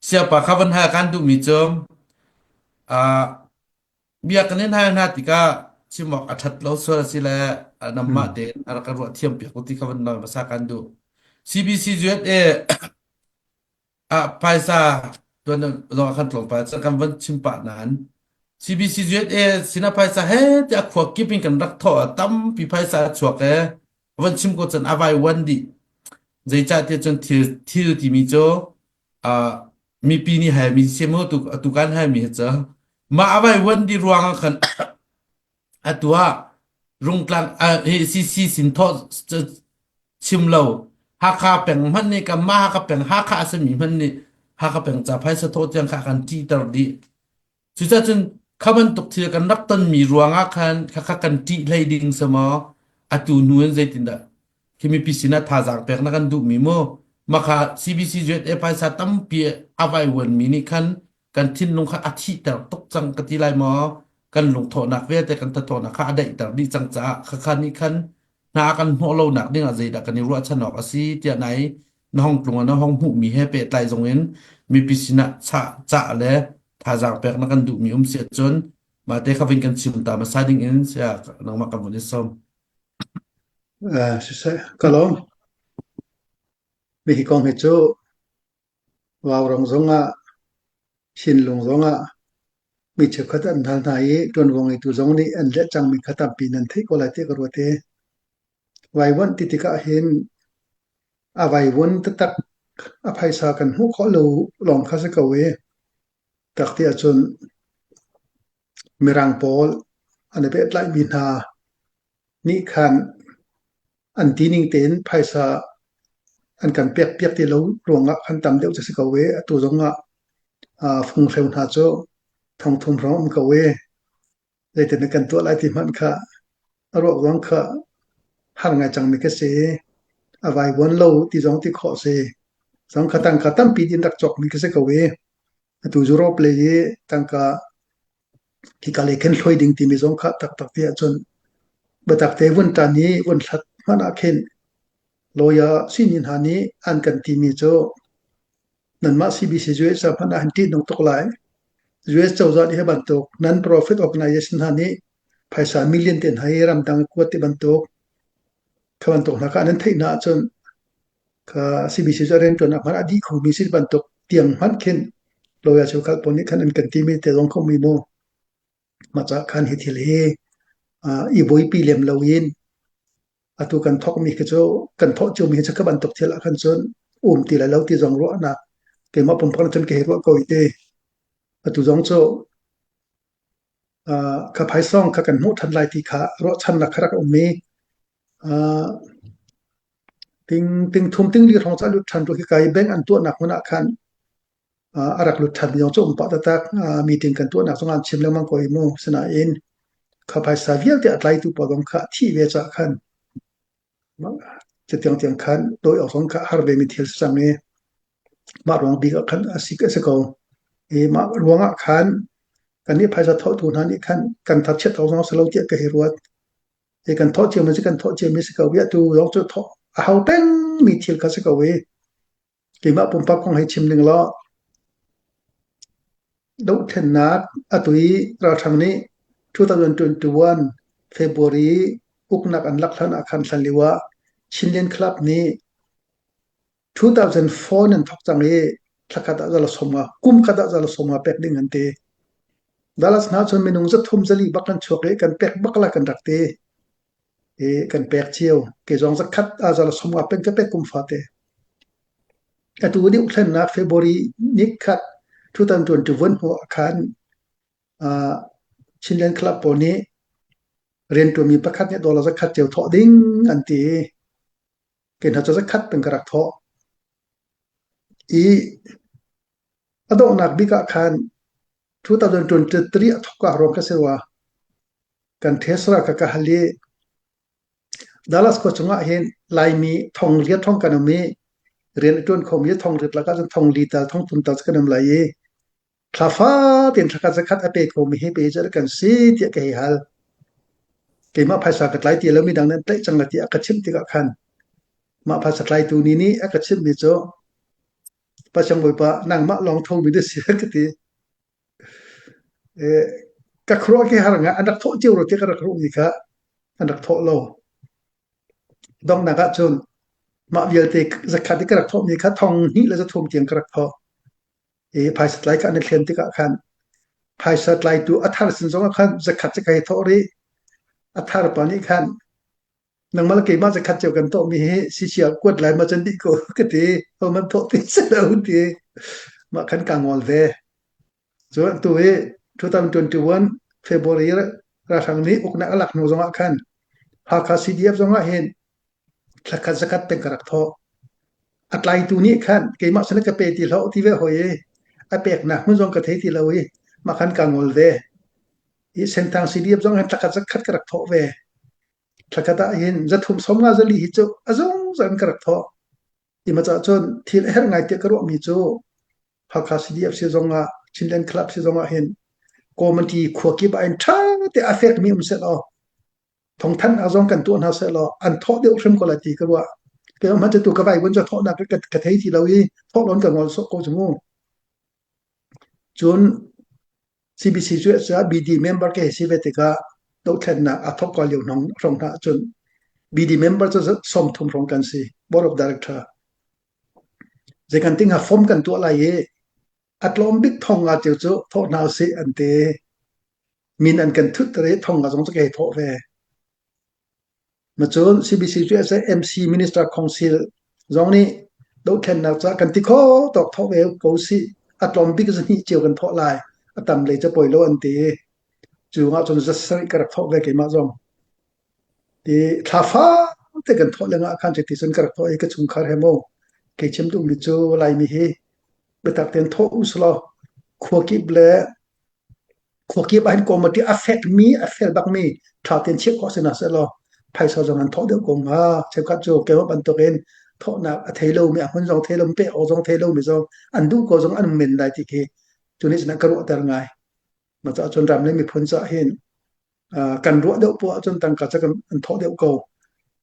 Siangpa kha van hal kan duhmi cu ah biakinn hna hna tikah chim awk a ṭhat lo sual a si le nangmah tein a rak ka ruah thiampiak u ti kha van lang hmasa kan duh. CBC USA ah phaisa tuan zong ah kan tlawm pah cun kan van chim pah nain CBC USA sinah phaisa he ti a khua kip in kan rak thawh ah tampi phaisa a chuak i ka van chim ko cun a vai wan dih zeicahtiah cun thil thil timi cu uh, mipi nih hal mi si maw tu atu kan hal mi cu ma a vai wan di ruang ah khan atu ah rungtlang uh, he si si sin tho chim lo hakha peng hman ni kam ma hakha peng hakha asami hman ni hakha peng cha phai sa tho tiang kha kan ti tar di Cucacun kha bantuk thil kan rak tonmi ruangah khan khakha kan ṭih hlei ding si maw? Atu hnu in zeitindah khi mipi sinah thazaang pek na kan duhmi mu? Maka CBC ZA phaisa tampi a vaivuanmi nih khan kan thinlung kha a thihter tuk cang ka ti lai maw? Kan lungthawhnak vialte kan thatawnak kha a daihter dih cang caah khakha nih khan hna kan hnawh lonak dingah zeidah kan i ruahchan awk a si tiah nai na hong tlung ah na hong hmuhmi he pehtlai zongin mipi sinah chah, cah le thazaang pek na kan duhmi um si ahcun mah te kha vin kan chim ta hmasa ding in saya nangmah kan hun i sawm. Eh, sisai, kalo. Mi hi kong hi cu Wow rong zong ah, Chin lung zong ah, mi cheukhat an hal hna i, tuan wong i tu zong nih an let cang mi khat tampi nan theih ko lai ti ka ruat i, Vaivuanh ti tikah hin a vaivuan taktak a phaisa kan hmuh khawh lo lawng kha si ko i tak ti ahcun mirang pawl an i pehtlaihmi hna nih khan an tining tein phaisa an kan pekpiak ti lo ruangah khan tam deuh cu a si ko i atu zongah funghreu hna cu thong thum hrawng um ko i zeitin na kan tuah lai ti hmanh kha a ruak zong kha har ngai cangmi ka si i a vaivuan lo ti zong ti khawh si. Zong kha tangka tampi din rak cawkmi ka si ko i atu zu rawp le i tangka hika le khen hloi ding timi zong kha taktak ti ahcun biatak te vun tan i vun hlat hmanh ah khin loya sinin ha nih an kan timi cu nanmah CBC US ca hmanh ah an ṭihnung tuk lai. US cozah nih hi bantuk non profit organization hna nih phaisa million te hna hi ramdang kuat ti bantuk kha bantuk hna kha nan theih na ahcun kha CBC cu a rianṭuannak hmanh ah dih khomi si bantuk tiang hmanh khin loya cu kalpawn nih khan an kan ti mi te zong kho mi mu. Mah cahkhan hi thil hi uh, i buaipi lem lo in atu kan thokmi khi cu kan thoh ciumi hi cu ka bantuk thil ah khan cun um ti le lo ti zong ruahnak keimah pumpak cun ka hei ruah ko te atu zong cu uh, kha phaisong kha kan hmuh ṭhan lai ti kha ruahchannak kha rak um i uh, ting ting thum ting li hrawng ca lut ṭhan tu hi kai beng an tuahnak hmun ah khan a rak lut ṭhan lio cu um pah taktak. Meeting kan tuahnak zong aan chim lengmang ko i mu. Sinain kha phaisa vialte a tlaitu pawl zong kha a thih ve caah khan catiang tiang khan dawi awk zong kha a har vemi thil a si cang i mah ruang bik ah khan a si a si ko. I mah ruang ah khan kan nih phaisa thawhtu hna nih khan kan thar chiat ko zong a si lo tiah ka hei ruat. I kan thawh ciami cu kan thawh ciami a si ko i atu zong cu thawh a hau pengmi thil kha a si ko i Keimah pumpak kong hei chim ding law, dohthlennak a tu i ralhrang nih 2021 February uknak an lak hlan ah khan hlan lio ah Chinland Club nih 2004 in an thawk cang i thlakhat ah zala sawm nga, kum khat ah zala sawm nga pek ding an ti. Dalas hna cun minung zathum zali bak kan chuak i kan pek bak la kan rak ti. E kan pek cio. Kezong zakhat azal som ah pen ka pek kum fate. Atu ni uhlennak February ni khat 2021 ho akhan uh, Chinland Club pawl nih riantuami pakhat nih dolar zakhat cio thawh ding an ti. Ken ha zakhat pen ka rak thawh. I A donghnak bik ah khan 2023 a thawk ah ruang ka si rua kan Tesla ka ka hal i Dallas khua chungah hin Laimi thong liat thong kan um i rian a ṭuan khomi thong liat lakah cun thong li tal thong tum tal cu kan um lai i thla fa tein thla khat zakhat a pe khomi hi pe cu kan si tiah ka hei hal keimah phaisa ka tlai ti lomi dang nan tlaih cang la tiah ka chimh tikah khan mah phaisa tlaitu ni nih a ka chimhmi cu Pacang Bawipa nangmah lawng thomi na si an ka ti. Eh, ka khuaruah khi har ngah an rak thawh cio ro ti ka rak ruhmi kha an rak thawh lo. Donghnak ah cun mah vialte zakhat i ka rak thawhmi kha thong hnih le zathuam tiang ka rak thawh. I phaisa tlai kha an i thlen tikah khan phaisa tlaitu a thar sin zongah khan zakhat cu ka hei thawh rih. A thar pa nih khan nangmah keimah zakhat cio kan tawhmi hi sisi ah kuat lai ma can dih ko ka ti hohmanh thawh ti si lo ti mah kan ka ngol ve cu tu hi 2021 February ralhrang nih uknak alak hnu zongah khan Hakha CDF zongah hin thakhat zakhat teng ka rak thaw a tlai tu nih khan keimah sana ka pe ti lo ti ve hoi a pek nak mun zong ka thei ti lo i ma kan ka ngol ve i senthang CDF zong han thakhat zakhat ka rak thaw ve Thlakhat ahhin zathum som nga zali hi cu a zungzal in ka rak thawh. Ti maw cun thil a herh ngai tiah ka ruahmi cu Hakha CDF si zong ah Chinland Club si zong ahhin community khua kip ah hin ṭha tein a fekmi um sehlaw thawngthanh ah zong kan tuah hna sehlaw an thawh deuh hrim ko lai ti ka ruah. Kei hmanh cu tu ka vaivun cu thawhnak ka thei ti lo i thawh loin ka ngol sawh ko cu mu. Cun CBC cu a si ah BD member ka hei si ve tikah dohthlennak a thawk ko lio hrawng hna ahcun BD member cu sawmthum hrawng kan si, Board of Director. Zeikanting ah form kan tuah lai i a tlawm bik thawng nga cio cu thawh hna usih an ti. Min an kan thutter i thawng nga zong cu ka hei thawh ve. Macun CBC CSA MC Minister Council zong nih dohthlennak ca kan ti kho tawk thaw ve ko sih. A tlawm bik zahnih cio kan thawh lai. A tam lei capoi lo an ti. Cu ngah cun zasarih ka rak thawh ve keimah zong. Ti thla faate kan thawh le ngah khan ti cun ka rak thawh i ka chungkhar he maw kei chim duhmi cu Laimi hi biatak tein thawh us law khua kip le Khuakip ah hin committee a fekmi, a fel bakmi tha tein chiah khawh si hna sehlaw phaisa zong an thawh deuh ko hnga. Cheukhat cu keimah bantukin thawhnak a thei lomi, a hmun zong thei lomi, pek awk zong thei lomi zong an duh ko zong an hung men lai ti khi cu nih cun a ka ruahter ngai. Na caah cun ram le miphun caah hin uh, kan ruah deuh poah ahcun tangka cu kan an thawh deuh ko.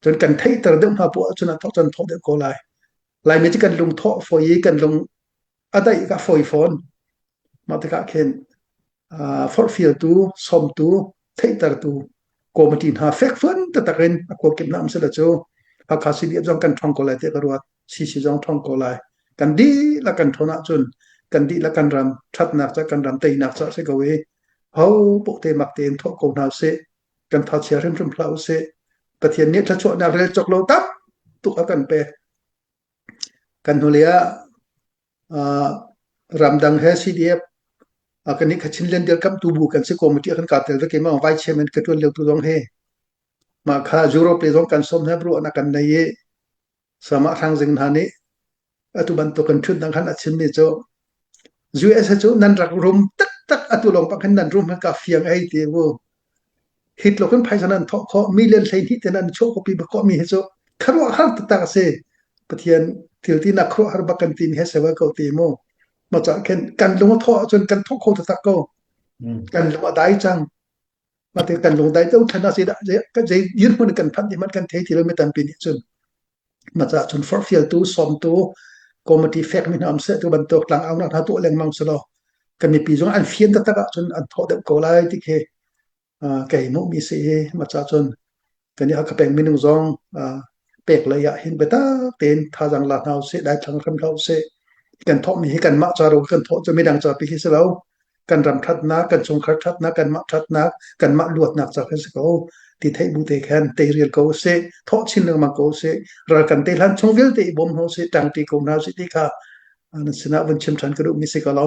Cun kan theihter deuh hna poah ahcun an thawh cu an thawh deuh ko lai. Laimi cu kan lung thawh fawi, kan lung a daih ka fawi fawn. Mah tikah khin uh, forhfialtu, sawmtu, theihtertu committee hna fek fuan tatak in a kuakip nam sila cu Hakha CDF zong kan thong ko lai tiah ka ruat. CC zong thong ko lai. Kan di la kan thon ahcun kan di la kan ram thatnak ca kan ram teinak ca si ko i ho po te mak tein thok ko hna se kan tha chia hrimhrim phla u se Pathian nih thlachuahnak rel chok lo tak tuk a kan pe Kan hnulei ah ah ramdang he CDF ah kan i khatchin lian dirkamhtu bu kan si committee ah kan kaap tel veke ma Vice Chairman ka ṭuan liotu zong hi mah kha Europe le zong kan sawm hna ruahnak kan nei i samah hrang zing hna nih atu bantuk kan ṭhutnak khan a chimmi cu usa cu nan rak rum taktak atu lawng bang khin nan rum ka fiang ei ti u hi tluk in phaisa nan thawh khawh million hleihnih te nan chuah kawpi bakawh mi hi cu kharuah har taktak a si pathian thilti nak khuruah har bak kan tin he sewa ko ti mu ma cah khen kan lung thawh ahcun kan thawh kho taktak ko kan lung a dai cang Mate kan lungdai to thana si da zei dirhmun kan phan ti man kan thei ti lo mi tampi nih cun maca cun forfial tu som tu committee fek mi nam se tu bantuk tlang au na hna tu lengmang se lo kan ni pi zong an fian ta tak ah cun an tho deuh ko lai ti khi kai mu mi si hi maca cun kan i a ka peng minung zong pek lei ah hin biatak tein thazaang la hna usih daithlang hram hlah usih kan thawhmi hi kanmah ca ro kan thawh cu midang ca pi hi si lo kan ram thatnak kan chungkhar thatnak kanmah thatnak kanmah luatnak ca khi si ko ti thei bu te khan te rial ko se thawh chin lengmang ko se ral kan te hlan chung vialte i bom ho se tang pi ko na si ti kha na sinah vun chim than ka duh mi si ko lo